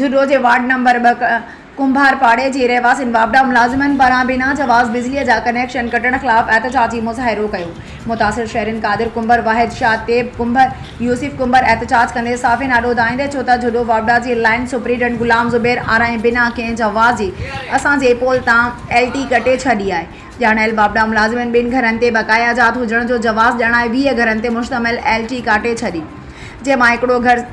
جهڏو جي ward number ٻه ڪنڀار پاڙي جي رهواسين واپڊا ملازمن پاران بنا جواز بجلي جا ڪنيڪشن ڪٽڻ خلاف احتجاجي مظاهرو ڪيو، متاثر شهرين قادر ڪنڀر، واحد شاهه، طيب ڪنڀر، يوسف ڪنڀر احتجاج ڪندي صحافين آڏو ڌائيندي چيو ته جهڏو واپڊا جي لائين سپريڊنٽ غلام زبير آرائين بنا ڪنهن جواز جي اسان جي پول تان ايل ٽي ڪٽي ڇڏي آهي، ڄاڻايل واپڊا ملازمن ٻن گهرن تي بقايا جات هجڻ جو جواز ڄاڻائي ويهه گهرن تي مشتمل ايل ٽي ڪاٽي ڇڏي جنهن مان هڪڙو گهر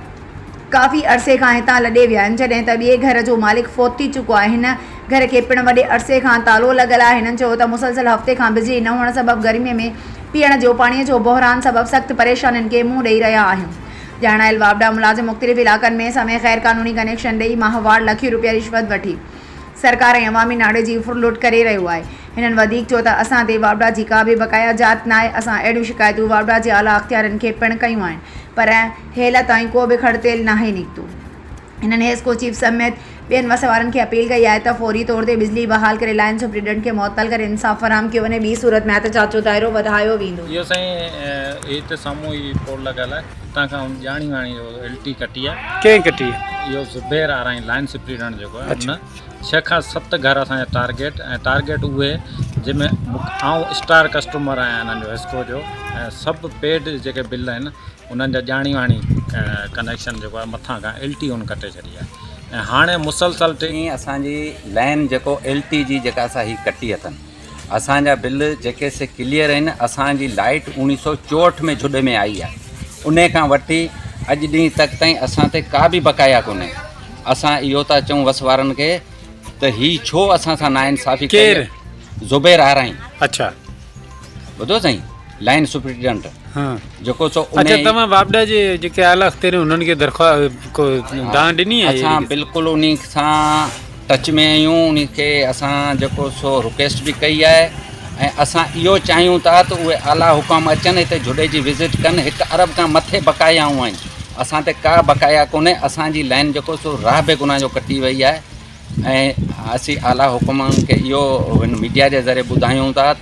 ڪافي عرصي کان هتان لڏي ويا آهن، جڏهن ته ٻئي گهر جو مالڪ فوت ٿي چڪو آهي، هن گهر کي پڻ وڏي عرصي کان تالو لڳل آهي، هنن چيو ته مسلسل هفتي کان بجلي نه هئڻ سبب گرمي ۾ پيئڻ جو پاڻي جو بحران سبب سخت پريشانين کي منهن ڏئي رهيا آهيون، ڄاڻايل واپڊا ملازم مختلف علائقن ۾ سمي غير قانوني ڪنيڪشن ڏئي ماهوار لکين روپيا رشوت وٺي سرڪار ۽ عوامي ناڻي جي ڦر لوٽ ڪري رهيو آهي، هنن وڌيڪ چيو ته اسان تي واپڊا جي ڪا به بقايا جات ناهي، اسان اهڙيون شڪايتون واپڊا جي اعليٰ اختيارين کي پڻ ڪيون آهن پر هيل تائين ڪو به کڙ تيل ناهي نڪتو. هنن هيسڪو چيف سميت ٻين وس وارن کي اپيل ڪئي آهي ته فوري طور تي بجلي بحال ڪري لائن سپريڊنٽ کي معطل ڪري انصاف فراهم ڪيو وڃي ٻي صورت ۾ احتجاج جو دائرو وڌايو ويندو. اهو سائين هي ته سامهون هي پول لڳل آهي اتان کان ان ڄاڻي واڻي جو ايل ٽي ڪٽي آهي. ڪنهن ڪٽي؟ اهو زبير آرائين لائن سپريڊنٽ جيڪو آهي ان ڇهه کان ست گهر اسان جا ٽارگيٽ ۽ ٽارگيٽ اهي جن ۾ آئون اسٽار ڪسٽمر آهيان هنن جو هيسڪو جو ۽ سڀ پيڊ جيڪي بل آهن انهن جا ڄاڻي واڻي ڪنيڪشن جيڪو آهي مٿان کان ايل ٽي هن ڪٽي ڇڏي آهي ۽ هاڻي مسلسل ٽي ائين اسان جي لائين جيڪو ايل ٽي جي جيڪا اسان هي ڪٽي اٿن اسان جا بل جيڪي سي ڪليئر آهن اسان جي لائيٽ اوڻيهه سو چوهٺ ۾ جھڏ ۾ آئي آهي ان کان وٺي اڄ ڏينهن تڪ تائين اسان تي ڪا به بقايا ڪونهي اسان اهو ٿا چون وس وارن کي ته هي ڇو اسان سان نا انصافي ڪير زبير آرائين اچھا ٻڌو سائين لائن سپريڊنٽ جيڪو سو اچھا تمام واپڊا جي جيڪي اعلي اختيار انهن کي درخواست کو دان ڏني آهي اسان بالکل انهي سان ٽچ ۾ آهيون انهي کي اسان جيڪو سو رڪويسٽ به ڪئي آهي ۽ اسان اهو چاهيون ٿا ته اهي اعلي حڪام اچن هتي جھوڏي جي وزٽ ڪن هڪ ارب کان مٿي بقاياون آهن اسان تي ڪا بقايا ڪونهي اسان جي لائن جيڪو سو راهه به گناهه جو ڪٽي وئي آهي ۽ اسين اعلي حڪمن کي اهو ميڊيا جي ذريعي ٻڌايون ٿا ته